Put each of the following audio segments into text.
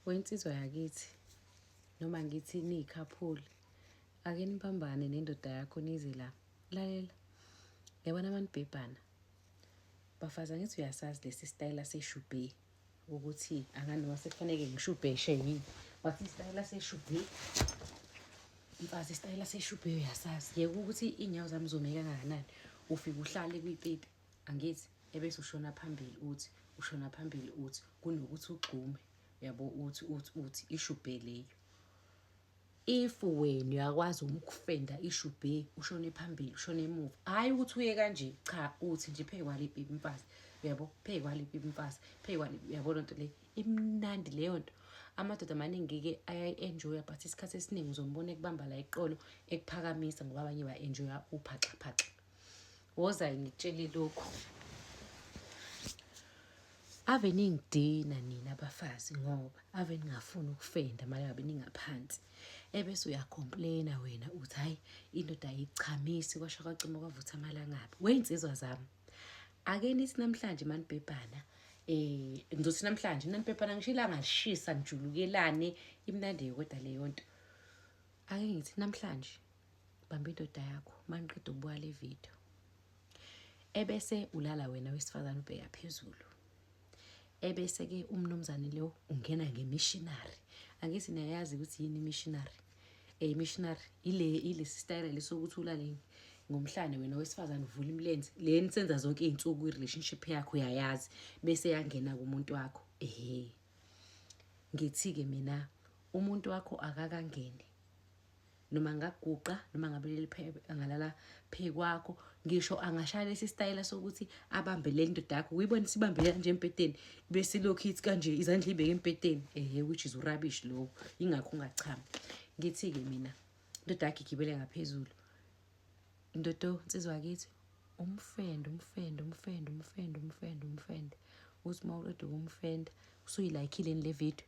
Wensizwa yakithi noma ngithi niyikhaphuli ake nibambane nendoda yakho nize la lalela yabona manibhebhana bafaza ngithi uyasazi lesi sitayela seshubhe ukuthi angani noma sekufaneke ngishubheshe yini wathi isitayela seshubhe mfazi isitayela seshubhe uyasazi yeke ukuthi iy'nyawo zami zomeka kangakanani ufike uhlale kwipipi angithi ebese ushona phambili uthi ushona phambili uthi kunokuthi ugxume yabo uthi uthi uthi ishubhe leyo if wena uyakwazi ukufenda ishubhe ushone phambili ushone emuva hayi ukuthi uye kanje cha uthi nje phezu kwaliphi imfazi uyabo phezu kwaliphi imfazi phezu kwaliphi uyabo lento le imnandi leyo nto amadoda amaningi-ke ayayi-enjoya but isikhathi esiningi uzombona ekubamba la iqolo ekuphakamisa ngoba abanye ba-enjoya uphaxaphaxa wozayi ngitshele lokhu ave ningidina nina abafazi ngoba ave ningafuni ukufenda mali ngabe ningaphansi ebese uyacomplaina wena uthi hayi indoda ayichamisi kwasho kwacima kwavutha amalangabi wey'nsizwa zami ake nithi namhlanje manibhebhana um ngizothi namhlanje nanibhebhana ngisho ilanga lishisa nijulukelane imnandi yokoda leyo nto ake ngithi namhlanje bamba indoda yakho maniqeda ukubuka le video ebese ulala wena wesifazane ubheka phezulu ebese-ke umnumzane lo ungena ngemishinari angithi niyayazi ukuthi yini imishinari um imishinari ile ilesi stayela lesokuthi ulaleni ngomhlane wena wesifazane uvula imilenze le nisenza zonke iy'nsuku i-relationship yakho uyayazi bese yangena kumuntu wakho ehe ngithi-ke mina umuntu wakho akakangeni noma ngaguqa noma ngabe leli phebe angalala phezu kwakho ngisho angashaya lesi sitayela sokuthi abambe le ndoda yakho uyibona sibambe kanje embhedeni bese lokhu ithi kanje izandla ibeke embhedeni ehe which is urabish lowo ingakho ungachami ngithi-ke mina indoda yakhe igibele ngaphezulu indodo nsizwa kithi umfende umfende umfende umfende umfende umfende uthi uma uqeda ukumfenda usuyilayikhile le video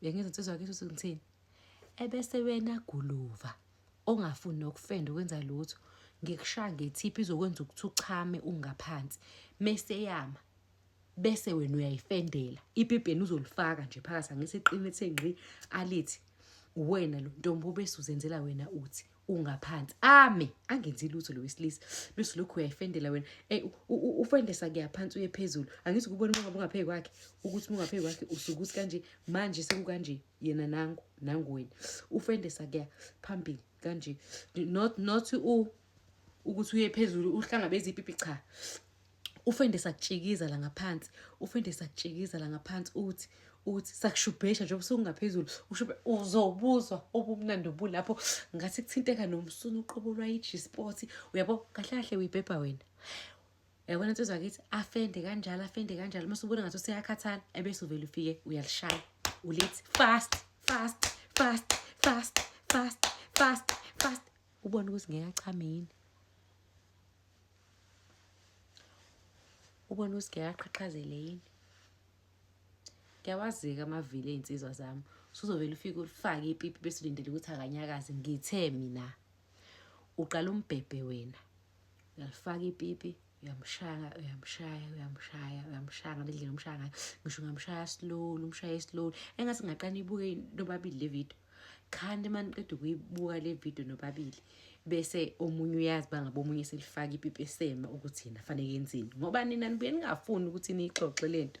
bengenza insizwa yakithi ukuthi ngithini ebese wena guluva ongafuni nokufenda ukwenza lutho ngikushaya ngethiphi izokwenza ukuthi uchame ungaphansi mese yama bese wena uyayifendela ibhibheni uzolifaka nje phakathi angithi iqinithe ngqi alithi uwena lo ntombi obese uzenzela wena uthi ungaphansi ame angenzi lutho lo wesilisa bese lokhu uyayifendela wena ey ufendesa kuyaphansi uye phezulu angithi kubona uma ngabe ungaphezu kwakhe ukuthi ungaphezu kwakhe usuke ukuthi kanje manje sekukanje yena nangu nangu wena ufendesa kuya phambili kanje not not u ukuthi uye phezulu uhlangabeza ipipi cha ufende sakutshikiza la ngaphansi ufende sakutshikiza la ngaphansi uthi uthi sakushubhesha njengoba usungaphezulu ushubhe uzobuzwa obumnandi obulapho ngathi kuthinteka nomsunu uqobo lwayi-g-sport uyabo kahle kahle uyibhebha wena yabona nto zakithi afende kanjalo afende kanjalo uma subona ngathi useyakhathala ebese uvele ufike uyalishaya ulithi fast fast fast fast fast fast fast Ubona ukuthi ngeke achame yini? Ubona ukuthi ngeke aqhaqhazele yini? Ngiyawazika amavili ey'nsizwa zami. Suzovele ufike ulifake ipipi bese ulindele ukuthi akanyakaze. Ngithe mina uqala umbhebhe wena. uyalifaka ipipi uyamshaya uyamshaya uyamshaya uyamshaya ngale ndlela umshaya ngayo ngisho ungamshaya slowly umshaye slowly engathi ngaqala ibuke nobabili le video khani uma niqeda ukuyibuka le video nobabili bese omunye uyazi bangabe omunye selifaka ipipi esema ukuthi yena fanele yenzeni ngoba nina nibuye ningafuni ukuthi niyixoxe le nto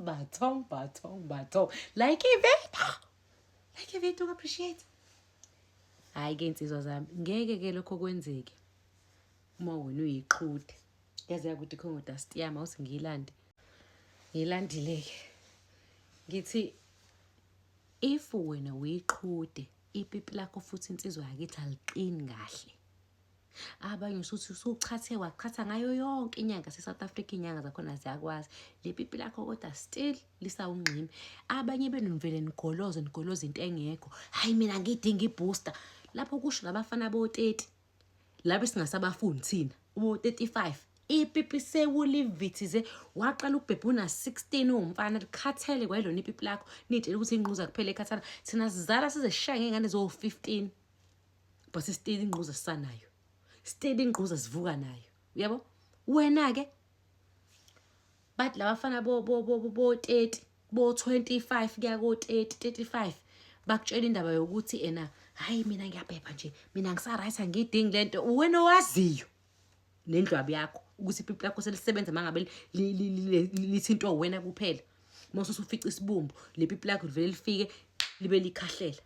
Bathong, bathong, bathong. Like a veto. Like a veto, appreciate. Hayi ke insizwa zami, ngeke ke lokho kwenzeke. Uma wena uyiqhude. Yazi yakuthi khongo dust yami awusingilandi. Ngilandile ke. Ngithi if wena uyiqhude ipipi lakho futhi insizwa yakithi aliqini kahle. abanye usuthi usuchathe wachatha ngayo yonke inyanga se-south africa iy'nyanga zakhona ziyakwazi le pipi lakho kodwa still lisawungximi abanye benivele nigoloze nigoloze into engekho hhayi mina ngidinga ibooster lapho kusho labafana bo-30 labe singasabafuni thina ubo-35 ipipi sewulivithize waqala ukubhebha una-16 uwumfana likhathele kwayilona ipipi lakho niyitshela ukuthi inquza kuphela ekhathana thina sizala sizeshaye ngey'ngane zo-15 but still ingquza sisanayo still ingquza sivuka nayo uyabo wena ke bathi labafana bo bo bo bo 30 bo 25 kuya ko 30 35 bakutshela indaba yokuthi ena hayi mina ngiyaphepha nje mina ngisaright angiyidingi lento wena owaziyo nendlwabu yakho ukuthi ipipi lakho selisebenza mangabe lithintwa wena kuphela mose usufica isibumbu lepipi lakho livele lifike libe likhahlela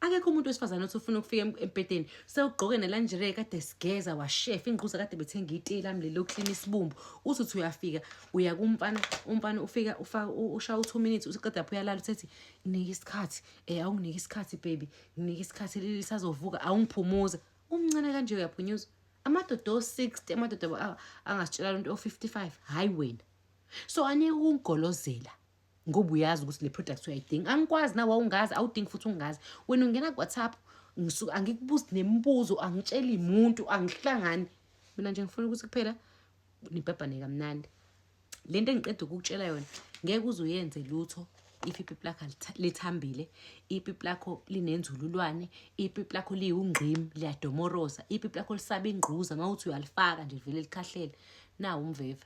akekho umuntu wesifazane othi ufuna ukufika embhedeni sewugqoke nelanjire kade sigeza washefa ingquza kade bethenga iti lami leli lokuklina isibumbu uthi uthi uyafika uya kumfana umfana ufika ushaya u-two minutes useqeda pho uyalala uthethi nginike isikhathi um eh, awunginike isikhathi baby nginike isikhathi leli sazovuka awungiphumuza umncane kanje uyaphunyuza amadoda o-sixty amadoda angasitshela lento o-fifty-five hhayi wena so anike ukungigolozela ngoba uyazi ukuthi le product uyayidinga angikwazi na wawungazi awudingi futhi ungazi wena ungena ku-whatsapp ngisuke angikubuzi nemibuzo angitsheli muntu angihlangani mina nje ngifuna ukuthi kuphela nibhabhane kamnandi le nto engiqeda ukukutshela yona ngeke uze uyenze lutho if ipipi lakho lithambile ipipi lakho linenzululwane ipipi lakho liwungqim liyadomoroza ipipi lakho lisaba ingquza uma uthi uyalifaka nje livele likhahlele nawo umveva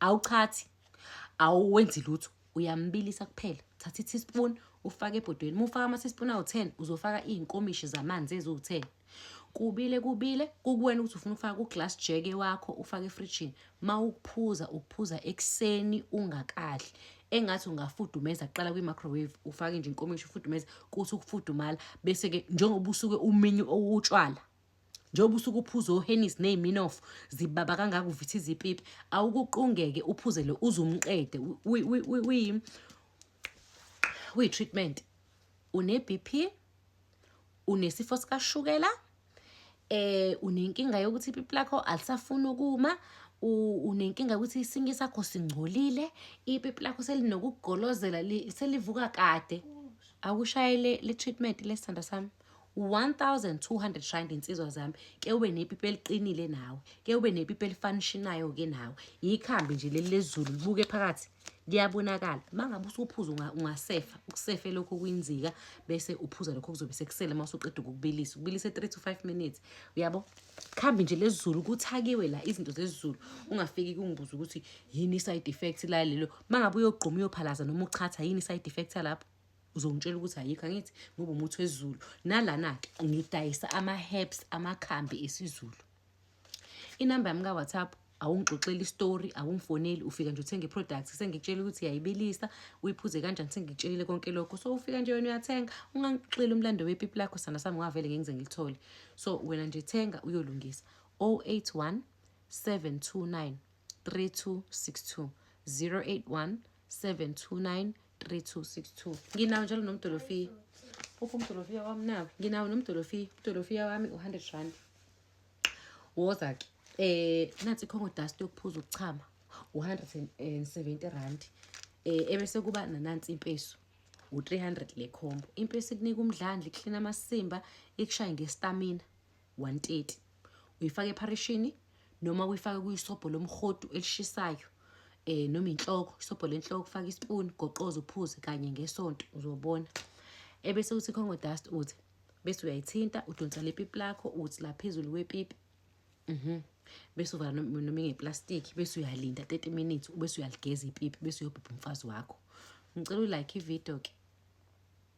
Awuchathi, awenzi lutho, uyambilisa kuphela. Thatha i-teaspoon ufake ebhodweni. Uma ufaka ama-teaspoon awu-10 uzofaka iy'nkomishi zamanzi eziwu-10. Kubile kubile kukuwena ukuthi ufuna ukufaka ku-glass jeke wakho ufake efrijini. Uma ukuphuza ukuphuza ekuseni ungakadli engathi ungafudumeza kuqala kwi-microwave ufake nje inkomishi ufudumeze kuthi ukufudumala bese-ke njengoba usuke uminyu owutshwala njengoba usuke uphuze ohenis ney'minofu zibaba kangaka uvitha izipipi awukuqungeke uphuze le uze umqede uyi-treatment une-b p unesifo sikashukela eh unenkinga yokuthi ipipi lakho alisafuni ukuma unenkinga ukuthi isinki sakho singcolile ipipi lakho selinokugolozela selivuka kade awushayele le-treatment lesithandwa sami 1200 rand insizwa zami ke ube nepipi eliqinile nawe ke ube nepipi elifanishinayo ke nawe yikhambi nje leli lezulu libuke phakathi liyabonakala mangabe usuphuza ungasefa ukusefe lokho kwinzika bese uphuza lokho kuzobe sekusele uma usuqeda ukukubilisa ubilise 3 to 5 minutes uyabo khambi nje lezulu kuthakiwe la izinto zezulu ungafiki kungibuza ukuthi yini side effect la lelo mangabe uyogquma uyophalaza noma uchatha yini side effect lapho uzongitshela ukuthi ayikho angithi ngoba umuthi wesiZulu nalana-ke ngidayisa ama-herbs amakhambi esiZulu inamba yami ka-whatsapp awungixoxeli isitori awungifoneli ufika nje uthenge i-product sengikutshela ukuthi uyayibilisa uyiphuze kanjani sengikutshelile konke lokho so ufika nje wena uyathenga ungangixoxeli umlando wepipi lakho sana sami ngavele ngengize ngilithole so wena nje thenga uyolungisa 081 729 3262 081 729 3262 nginawo njalo nomdolofiya uphi umdolofiya wami nawo nginawo nomdolofiya umdolofiya wami u-hundred rand woza-ke eh nathi ikhongo dust yokuphuza ukuchama u-170 rand eh ebese kuba nanansi impeso u-300 le khombo impeso ikunika umdlandla iklina amasimba ikushaye ngestamina 130 uyifaka epharishini noma uyifake kuyisobho lomhodu elishisayo eh noma inhloko isobho lenhloko faka ispoon goqoza uphuze kanye ngesonto uzobona ebese uthi congo dust uthi bese uyayithinta udonsa lepipi lakho uthi la phezulu kwepipi mhm bese uvala noma ingeplastic bese uyalinda 30 minutes ubese uyaligeza ipipi bese uyobhubha umfazi wakho ngicela ulike ivideo ke